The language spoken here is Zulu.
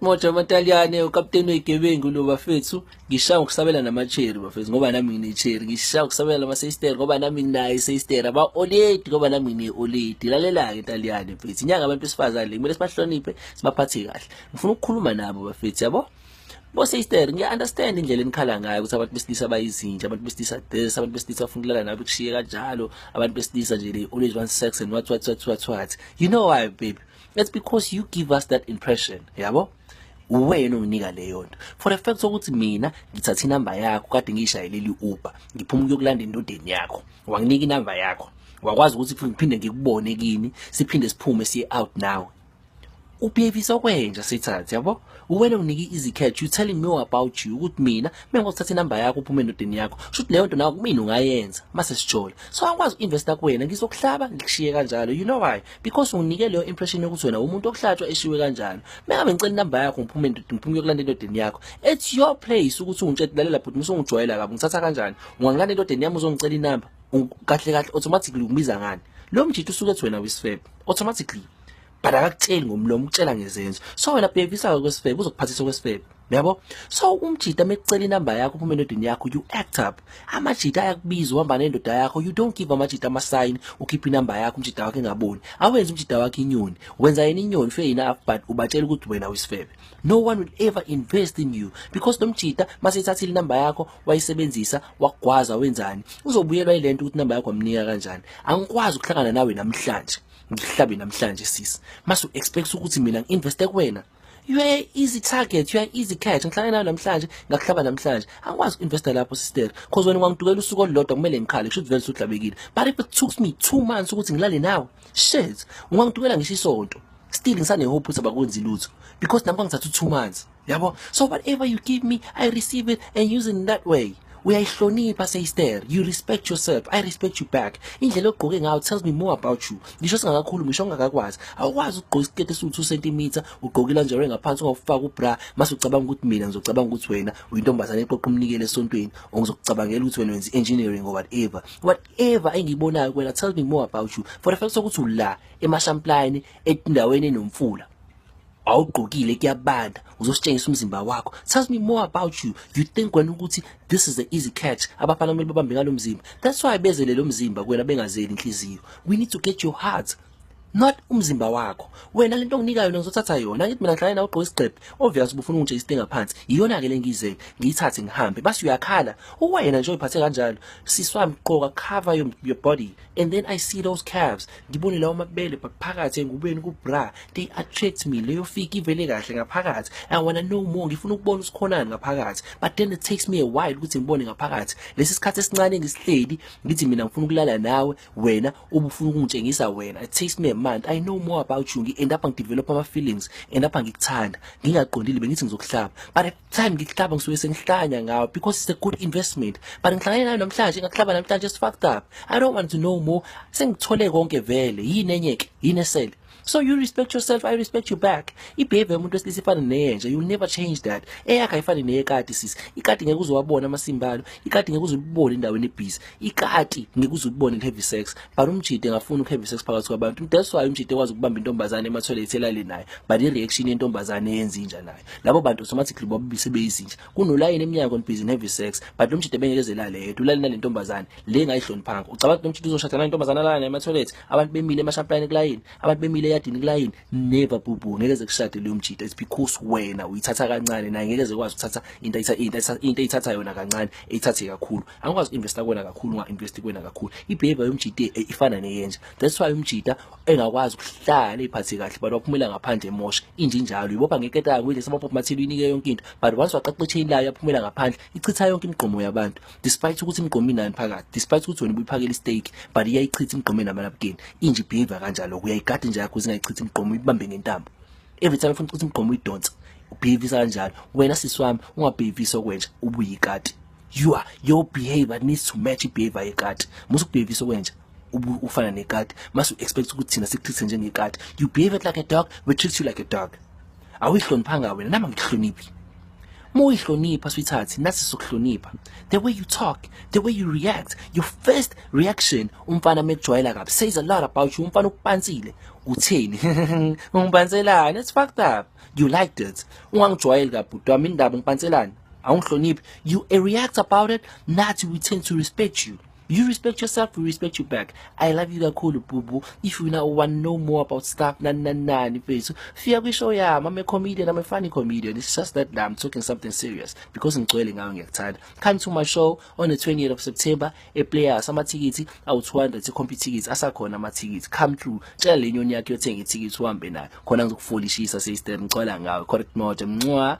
Moja amaTaliyane ukapteni wegebengu lo bafethu ngishaya ukusabela namacheri bafethu ngoba nami nginecheri ngishaya ukusabela namaseister ngoba nami nginayo iseister aba oledi ngoba nami ngine oledi lalela ke Taliyane bafethu inyanga abantu besifazane le kumele sibahloniphe sibaphathe kahle ngifuna ukukhuluma nabo bafethu yabo boseister ngiya-understand indlela enikhala ngayo ukuthi abantu besilisa bayizinja abantu besilisa this abantu besilisa bafuna ukulala nabo kushiye kanjalo abantu besilisa nje they always want sex and what what what what what you know why baby That's because you give us that impression, yabo? uwena onginika leyo nto for the fact sokuthi mina ngithatha inamba yakho kade ngiyishayeleli uber ngiphuma ukuyokulanda endodeni yakho wanginika inamba yakho wakwazi ukuthi ngiphinde ngikubone kini siphinde siphume siye out now ubuyevisa okwenja sithathe yabo uwena unike izikhetho you telling me about you ukuthi mina mengikuthatha inamba yakho uphume endodeni yakho shuthi leyo nto nawe kumina ungayenza mase sijola so angikwazi uinvesta kuwena ngizokuhlaba ngikushiye kanjalo you know why because unike leyo impression yokuthi wena umuntu okuhlatshwa eshiwe kanjalo mengabe ngicela inamba yakho ngiphume ngiphume kuyokulanda endodeni yakho it's your place ukuthi ungitshela lalela bhuti musongijwayela kabi ngithatha kanjani ungangilanda endodeni yami uzongicela inamba kahle kahle automatically ubiza ngani lo mjithu usuke ethi wena wisifebe automatically but akakutsheli ngomlomo ukutshela ngezenzo so wena bhekisa kwesifebe uzokuphathisa kwesifebe yabo so umjita mekucela inamba yakho uphuma endodeni yakho you act up amajita ayakubiza uhamba nendoda yakho you don't give amajita amasayini ukhipha inamba yakho umjita wakho engaboni awenza umjita wakho inyoni wenza yena inyoni fe yina but ubatshela ukuthi wena uyisifebe no one will ever invest in you because lo mjita maseyithathile inamba yakho wayisebenzisa wagwaza wenzani uzobuyelwa ile nto ukuthi inamba yakho amnika kanjani angikwazi ukuhlangana nawe namhlanje ngihlabe namhlanje sisi masu expect ukuthi mina ngi-investe kuwena you are easy target you are easy catch ngihlale nayo namhlanje ngakuhlaba namhlanje angikwazi uinvesta lapho sister cause wena ungangidukela usuku olulodwa kumele ngikhale kusho vele usuhlabekile but if it took me two months ukuthi ngilale nawe shit ungangidukela ngisho isonto still ngisane hope ukuthi abakwenzi lutho because nami kwangithatha two months yabo so whatever you give me i receive it and use it in that way uyayihlonipha seyster you respect yourself i respect you back indlela ogqoke ngayo tells me more about you ngisho singakakhulumi ngisho ngakakwazi awukwazi ukugqoka isiketi esiwu-2 centimeter ugqoke ilanjero engaphansi ungakufaka ubra mase ucabanga ukuthi mina ngizocabanga ukuthi wena uyintombazane eqoqa umnikelo esontweni or ngizokucabangela ukuthi wena wenza i-engineering or whatever whatever engiyibonayo kwena tells me more about you for the fact sokuthi ula emashampline endaweni enomfula awugqokile kuyabanda uzositshengisa umzimba wakho tells me more about you you think wena ukuthi this is the easy catch abafana kumele babambe ngalo mzimba that's why bezele lo mzimba kuwena bengazeli inhliziyo we need to get your heart not umzimba wakho wena lento onginika yona ngizothatha yona ngithi mina ngihlale nawe ugqoka isigqebhe obvious ubufuna ungitshela isitenga phansi iyona ke lengizele ngiyithathe ngihambe basi uyakhala uwena nje uyiphathe kanjalo siswami gqoka cover your, your body and then i see those calves ngibone lawo mabele but phakathi engubeni kubra they attract me leyo fiki ivele kahle ngaphakathi i wanna know more ngifuna ukubona usikhonani ngaphakathi but then it takes me a while ukuthi ngibone ngaphakathi lesi sikhathi esincane ngisihleli ngithi mina ngifuna ukulala nawe wena ubufuna ukungitshengisa wena it takes me a month i know more about you ngi-end up ngidevelop ama-feelings end up ngikuthanda ngingaqondile bengithi ngizokuhlaba but time ngihlaba ngisuke sengihlanya ngawo because it's a good investment but ngihlangane nayo namhlanje ngakuhlaba namhlanje it's fucked up i don't want to know more sengithole konke vele yini enye ke yini esele so you respect yourself i respect you back ibehavior yomuntu wesilisa ifana neyenja you'll never change that eyakhe ayifani neyekati sis ikati ngeke uzowabona amasimbalo ikati ngeke uzibone endaweni ebhizi ikati ngikuze ubone heavy sex but umjide ngafuna heavy sex phakathi kwabantu that's why umjide kwazi ukubamba intombazane ema toilet elale nayo but i reaction yentombazane yenza inja nayo labo bantu automatically babise beyizinja kunolayini eminyango on busy heavy sex but umjide bengezelale yedwa ulale nalentombazane le ngayihloniphanga ucabanga ukuthi umjide uzoshada nalentombazane alana ema toilet abantu bemile emashampline kulayini abantu bemile eyadini kulayini never bubu ngeke ze kushade leyo mjide it's because wena uyithatha kancane naye ngeke ze kwazi ukuthatha into into into ithatha yona kancane ithathe kakhulu angikwazi uinvesta kuwena kakhulu unga-investi kuwena kakhulu ibehavior yomjita eh, ifana neyenja that's why umjita engakwazi ukuhlala iphathe kahle but waphumela ngaphandle emosha injinjalo uyibopha ngeketayo kuyile samapop mathile uyinike yonke into but once waqaqa ichain layo yaphumela ngaphandle ichitha yonke imigqomo yabantu despite ukuthi imigqomo inani phakathi despite ukuthi wena ubuyiphakela istake but iyayichitha imigqomo enamalapukeni inje ibehavior kanjalo uyayigada nje yakho zingayichitha imigqomo uyibambe ngentambo every time ufuna ukuthi imigqomo uyidonsa ubhivisa kanjalo wena sisi wami ungabhivisa okwenja ubuyikati you are your behavior needs to match ibehavior yekati musu kubehivisa okwenja ufana nekati masu expect ukuthi thina sikutreat njengekati you behave like a dog we treat you like a dog awuyihloniphanga wena nama ngikuhloniphi uma uyihlonipha sweetheart nasi sokuhlonipha the way you talk the way you react your first reaction umfana mekujwayela kabi says a lot about you umfana ukupansile utheni ungibhanselani it's fucked up you liked it ungangijwayeli kabhuti wami indaba ngipantselani awungihloniphi you react about it nathi we tend to respect you you respect yourself we respect you back i love you kakhulu bhubu if you now want know more about stuff nani nani nani mfethu fika kwishow yami i'm a comedian i'm a funny comedian it's just that i'm talking something serious because ngigcwele ngayo ngiyakuthanda come to my show on the 20th of september eplayers amathikithi awu-200 ikhompithikithi asakhona amathikithi come through tshela le nyoni yakhe yothenga ithikithi uhambe nayo khona ngizokufolishisa sister ngicwala ngawe correct mode mncwa